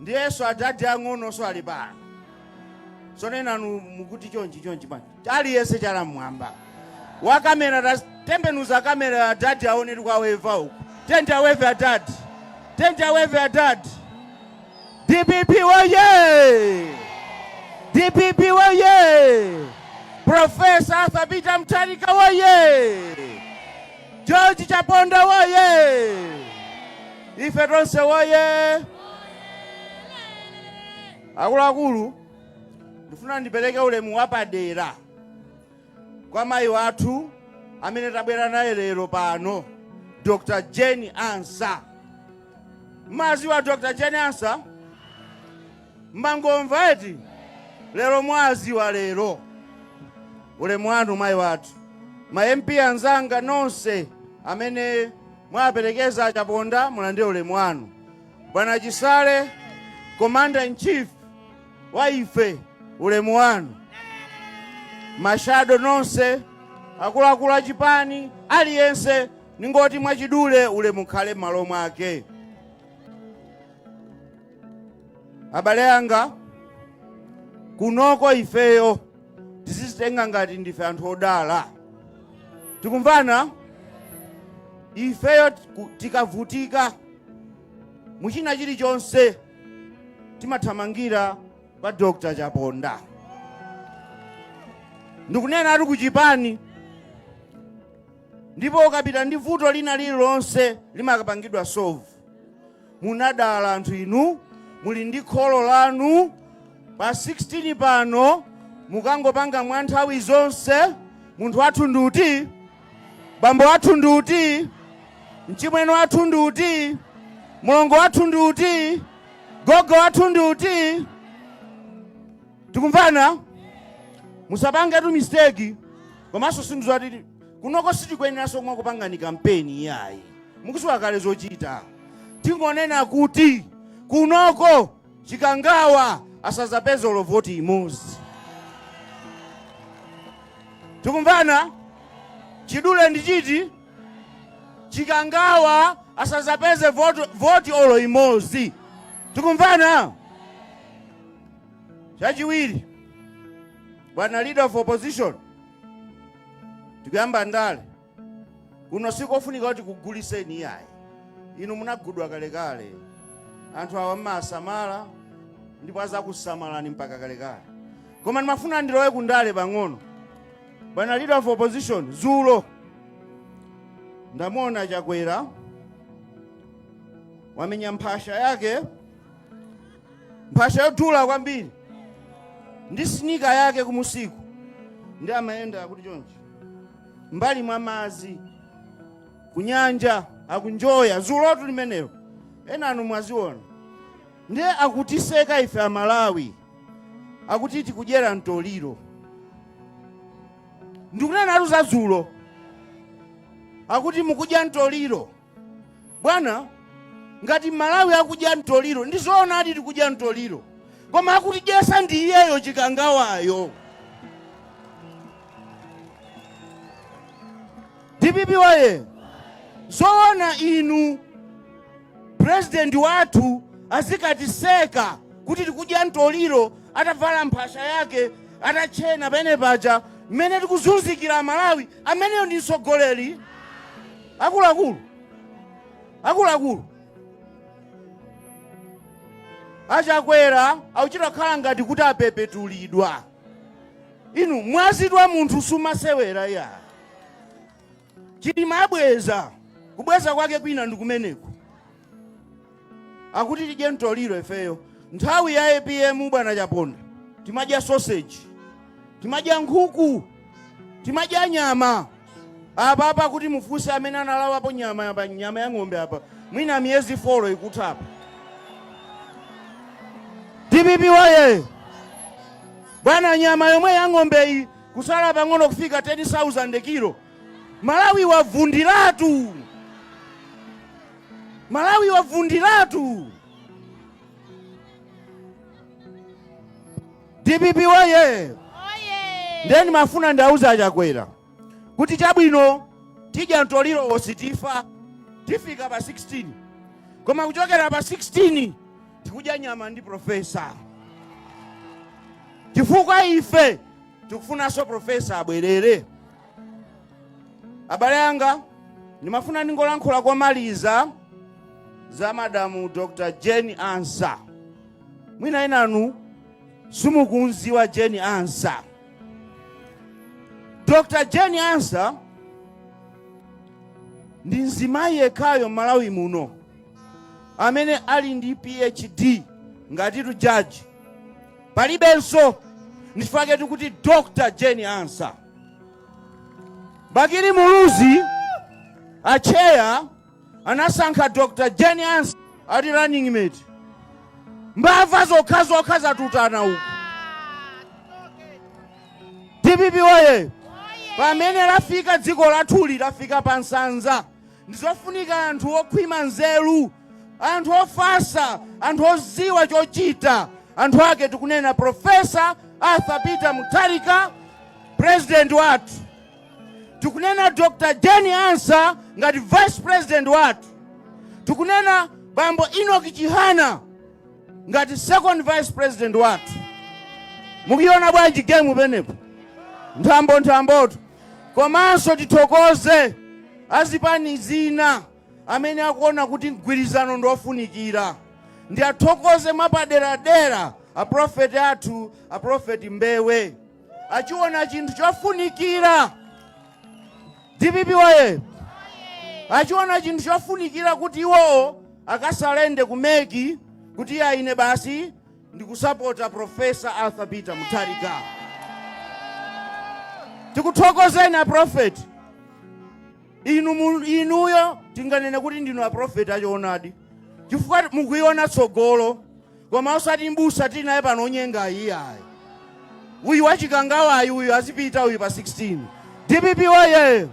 ndiyenso adadi ang'onoso ali pano so inu inu mukuti chonchi chonchi man aliyense chala mmwamba wa kamera tatembenuza kamera ya adadi aone tikuwaweva uku tenti aweve adadi tenti aweve adadi dpp woye dpp woye profesa arthur peter mtharika woye george chaponda woye Ife tonse woye! Akuluakulu, ndifuna ndipereke ulemu wapadera kwa mayi wathu amene tabwera naye lero pano, Dr. Jane Ansa. Mmawaziwa Dr. Jane Ansa? Mmangomva eti? Lero mwawaziwa lero. Ulemu wanu mayi wathu. Ma MP anzanga nonse amene mwaperekeza a Chaponda mulandire ulemu wanu. Bwana Chisale Commander in Chief wa ife ulemu wanu. Mashado nonse akuluakulu a chipani aliyense ningoti mwachidule ulemu ukhale m'malo mwake. Abale anga, kunoko ifeyo tizizitenga ngati ndife anthu odala. Tikumvana? Ifeyo tiku- tikavutika mu china chilichonse timathamangira pa Dr. Chaponda. Ndikunena ati kuchipani ndipo ukapita ndi vuto lina lililonse limakapangidwa solve. munadala anthu inu muli ndi kholo lanu pa 16 pano mukangopanga mwa nthawi zonse munthu wathu ndi uti bambo wathu ndi uti mchimwene wathu ndi uti mlongo wathu ndi uti gogo wathu ndi uti tikumvana musapangetu mistake komanso si inu zoti kunoko sitikuyeneranso kumakupangani kampeni iyayi mukuziwa kale zochita tingonena kuti kunoko chikangawa asazapeze olo voti imodzi tikumvana chidule ndi chiti chikangawa asazapeze voti olo imodzi tikumvana chachiwiri Bwana leader of opposition, tikuyamba ndale kuno, sikofunika kuti kuguliseni iyayi, inu munagudwa kalekale. Anthu awa mmawasamala ndipo azakusamalani mpaka kalekale, koma ndimafuna ndilowe kundale pang'ono. Bwana leader of opposition, zulo ndamuona Chakwera wamenya mphasha yake mphasha yodula kwambiri ndi sinika yake kumusiku ndi amayenda kuti chonchi mbali mwa madzi kunyanja akunjoya zulotu limenelo enanu mwaziona ndiye akutiseka ife amalawi akuti tikudyera mtoliro ndikunenatu za dzulo akuti mukudya mtoliro bwana ngati malawi akudya mtoliro ndi zoonadi tikudya mtoliro koma akutidyesa ndi iyeyo chikangawayo dpp woye zoona inu purezidenti wathu azikatiseka kuti tikudya mtoliro atavala mphasha yake atatchena penepake mmene tikuzunzikira malawi ameneyo ndi mtsogoleri Akuluakulu, akuluakulu, a Chakwera akuchita kukhala ngati kuti apepetulidwa. Inu mwazi wa munthu sumasewera iyayi. Chilima abweza, kubweza kwake kwina ndikumeneku. akuti tidye mtoliro ifeyo nthawi ya apm bwana chaponda timadya sausage timadya nkhuku timadya nyama apa apa kuti mufunse amene analawapo nyama apa nyama ya ng'ombe apa mwina miyezi folo ikuthapa dpp woye bwana nyama yomwe ya ng'ombeyi kusala pang'ono kufika 10000 kilo Malawi wavundatu Malawi wavundatu Dpp woyee! Ndiye ndimafuna ndiauze a Chakwera kuti chabwino tidya mtolirowo sitifa tifika pa 16 koma kuchokera pa 16 tikudya nyama ndi profesa chifukwa ife tikufunanso profesa abwerere abale anga ndimafuna ndingolankhula pomaliza za madamu dr jane ansah mwina inanu simukunziwa jane ansah dr jane ansah ndi mzimayi yekhayo m'malawi muno amene ali ndi phd ngatitu jaji palibenso ndichifukwa chake tikuti dr jane ansah Bakili Muluzi atcheya anasankha Dr. Jane Ansah ati running mate. Mbava zokha zokha zatutana uku. DPP woyee! Pamene lafika dziko lathuli lafika pa nsanza. ndizofunika anthu okhwima nzeru anthu ofasa anthu oziwa chochita anthu ake tikunena professor arthur peter mutharika president wathu tikunena dr jane ansah ngati vice president wathu tikunena bambo enoch chihana ngati second vice president wathu mukuiona bwanji game penepo nthambo nthambotu Komanso tithokoze azipani zina amene akuona kuti mgwirizano ndi ofunikira. Ndiathokoze mwapaderadera a prophet athu a prophet Mbewe achiona chinthu chofunikira dpp woyee! Achiona chinthu chofunikira kuti iwowo akasalende ku mec kuti ayi ine basi ndikusapota Professor Arthur Peter Mutharika. Tikuthokozeni a prophet. Inu inuyo tinganene kuti ndinu a prophet achoonadi. Chifukwa mukuona tsogolo koma osati mbusa tili naye pano onyenga iyayi. Uyu wachikangawayi uyu azipita uyu pa 16. DPP woyee!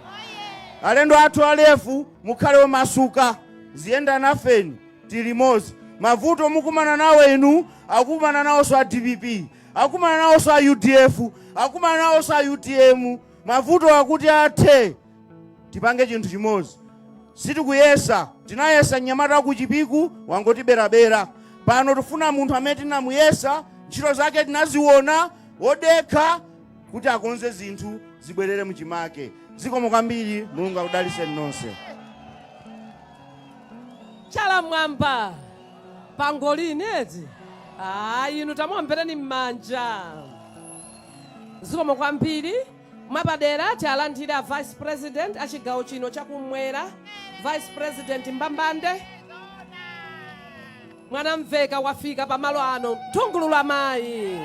Alendo athu a LEF mukhale omasuka tiyenda nafeni. tili limodzi mavuto mukumana nawo inu akukumana nawoso a dpp akukumana nawoso a udf akukumana nawoso a utm mavutowa kuti athe tipange chinthu chimodzi sitikuyesa tinayesa mnyamata wakuchipiku wangotiberabera pano tifuna munthu amene tinamuyesa ntchito zake tinaziona wodekha kuti akonze zinthu zibwerere muchimake zikomo kwambiri mulungu akudaliseni nonse chala m'mwamba pangolini eti a inu tamuombereni m'manja zikomo kwambiri mwapadera tialandire a vice president a chigawo chino chakumwera vice president mbambande mwanamveka wafika pamalo ano nthungululu amayi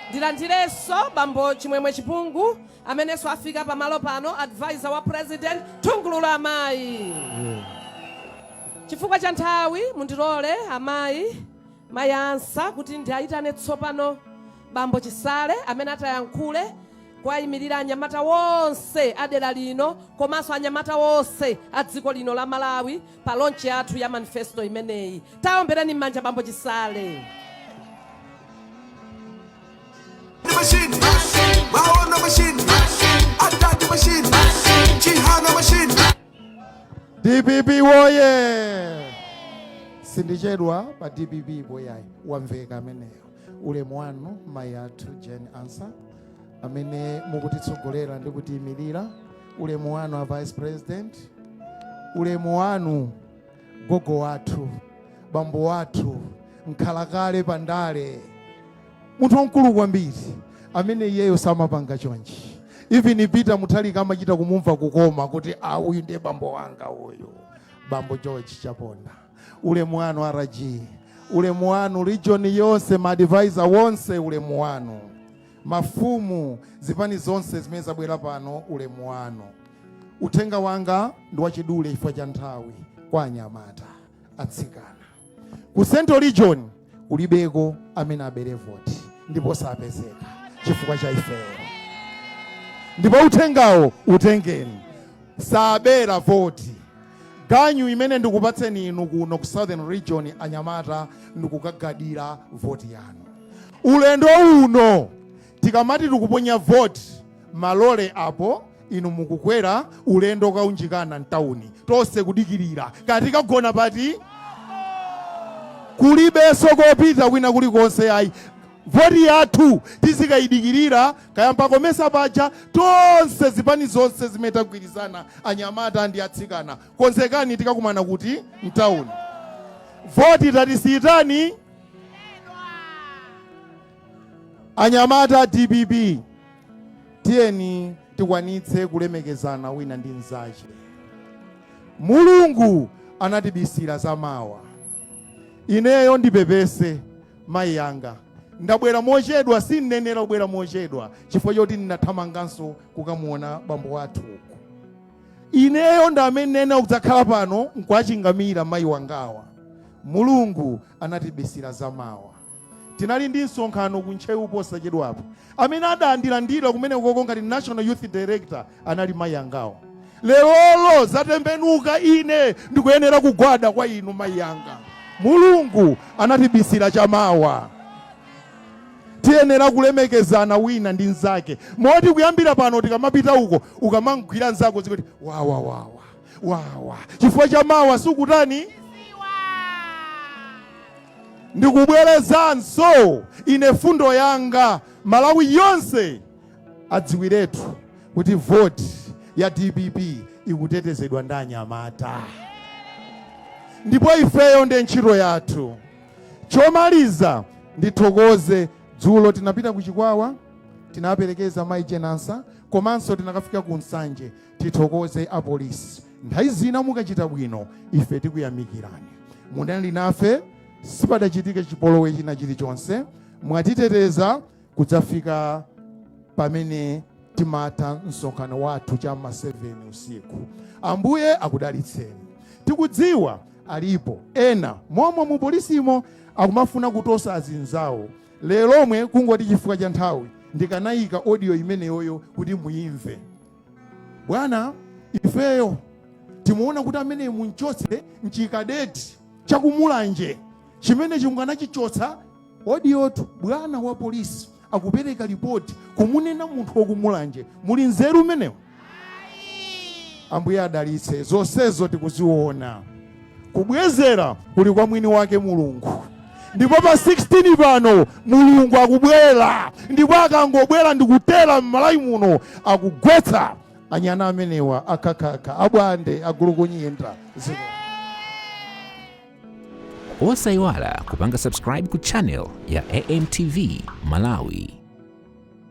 ndilandirenso bambo chimwemwe chipungu Amenenso afika pa malo pano, advisor wa president, nthungululu amayi. Chifukwa cha nthawi, mundilole amayi, Mayi Ansah kuti ndiayitane tsopano Bambo Chisale amene atayankhule kuwayimirira anyamata wonse a dera lino komanso anyamata wonse a dziko lino la Malawi pa launch yathu ya manifesto imeneyi. Tawaombereni m'manja Bambo Chisale. dpp woye sindichedwa pa dpp boyayi wamveka ameneyo ulemu wanu mayi athu jane ansah amene mukutitsogolera ndi kutiyimirira ulemu wanu a vice president ulemu wanu gogo wathu bambo wathu mkhalakale pandale munthu wamkulu kwambiri amene iyeyo samapanga chonchi even peter mutharika amachita kumumva kukoma kuti a uyu ndiye bambo wanga uyu bambo george chaponda ulemu wanu rg ulemu wanu region yonse maadvisor wonse ulemu wanu mafumu zipani zonse zimene zabwera pano ulemu wanu uthenga wanga ndi wachidule chifukwa cha nthawi kwa anyamata atsikana ku central region kulibeko amene abere voti ndipo sapezeka chifukwa cha ifeyo ndipo uthengawo utengeni sabera voti ganyu imene ndikupatseni inu kuno ku southern region anyamata ndi kukagadira voti yanu ulendo uno Tikamati tikuponya vote ma lorry apo inu mukukwera ulendo okaunjikana ntauni tonse kudikilira kaya tikagona pati? Kulibenso kopita kwina kulikonse ayi vote yathu tizikaidikilira kaya mpa Comesa paja tonse zipani zonse zimene tagwirizana anyamata ndi atsikana konzekani tikakumana kuti? Ntauni. Vote tatisiyitani? Anyamata a dpp tiyeni tikwanitse kulemekezana wina ndi mnzache. Mulungu anatibisira za mawa. Ineyo ndipepese mayi anga ndabwera mochedwa, sinnayenera kubwera mochedwa chifukwa choti ndinathamanganso kukamuona bambo wathu uku. Ineyo ndi amene nnayenera kudzakhala pano nkuwachingamira mayi wangawa. Mulungu anatibisira za mawa. Tinali ndi msonkhano ku Ntcheu posachedwapa. Amene adandilandira kumenekoko ngati National Youth Director anali mayi angawa. Lerolo zatembenuka, ine ndikuyenera kugwada kwa inu mayi anga. Mulungu anatibisira cha mawa. Tiyenera kulemekezana wina ndi mnzake moti kuyambira pano tikamapita uko, ukamamgwira mnzako uzikuti, Wawa, wawa. wawa chifukwa cha mawa sukutani ndikubwerezanso ine fundo yanga malawi yonse adziwiretu kuti voti ya dpp ikutetezedwa ndi anyamata ndipo ifeyo ndi ntchito yathu chomaliza ndithokoze dzulo tinapita ku chikwawa tinaperekeza mayi jane ansah komanso tinakafika ku nsanje tithokoze apolisi nthawi zina mukachita bwino ife tikuyamikirani munali nafe sipadachitike chipolowe china chilichonse mwatiteteza kudzafika pamene timatha msonkhano wathu cha ma 7 usiku ambuye akudalitseni tikudziwa alipo ena momwe mu polisimo akumafuna kutosa azinzawo lelomwe kungoti chifukwa cha nthawi ndikanayika audio imeneyoyo kuti muimve bwana ifeyo timuona kuti ameneyi mumchotse nchikadeti chakumulanje chimene chinganachichotsa audiotu bwana wa polisi akupereka ripoti kumunena munthu wakumulanje muli nzeru mmenemo ambuye adalitse zonsezo tikuziona kubwezera kuli kwa mwini wake mulungu ndipo pa 16 pano mulungu akubwera ndipo akangobwera ndikutera m'malawi muno akugwetsa anyana amenewa akhakhakha abwande agulukunyinda zikomo osayiwala kupanga subscribe ku channel ya amtv malawi